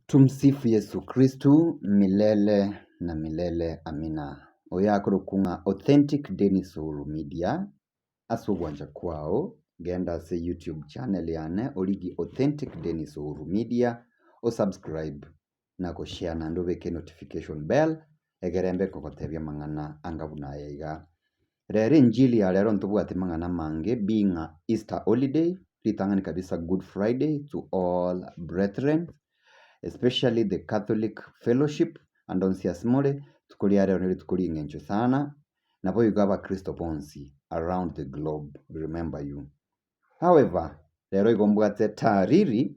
Tumsifu Yesu Kristu milele na milele amina. Oyo akorokwa ng'a Authentic Dennis Uhuru Media ase ogwancha kwao genda ase YouTube channel yane origi Authentic Dennis Uhuru Media o subscribe na go share naende obeke notification bell egerembe nkogotebia amang'ana anga buna aya iga, Rero enchili ya rero ntobwati mang'ana amange being a Easter holiday, ritang'ani kabisa Good Friday to all brethren especially the Catholic fellowship and onsi ase more, rituko ria rero nerituko ring'encho sana, nabo igo abakristo bonsi around the globe remember you. However, rero igo mbwate taariri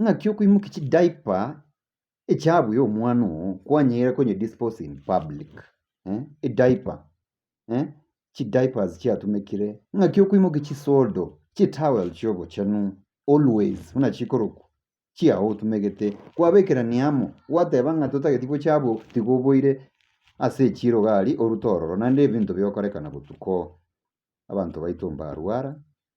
Ng'aki okoimokia chi diaper echabu ya omwana oo kwanyare konye dispose in public eh? Ediaper eh? chi diapers chiatumekire ng'aki okoimokia chisodo chitowel chia obochenu always buna chikorokwa chiao otumegete kwabekerania amo gwateba ng'a totageti gocha abwo tiga oboire ase echiro iga aria orute ororo naende ebinto bigokorekana botuko abanto baito mbarwara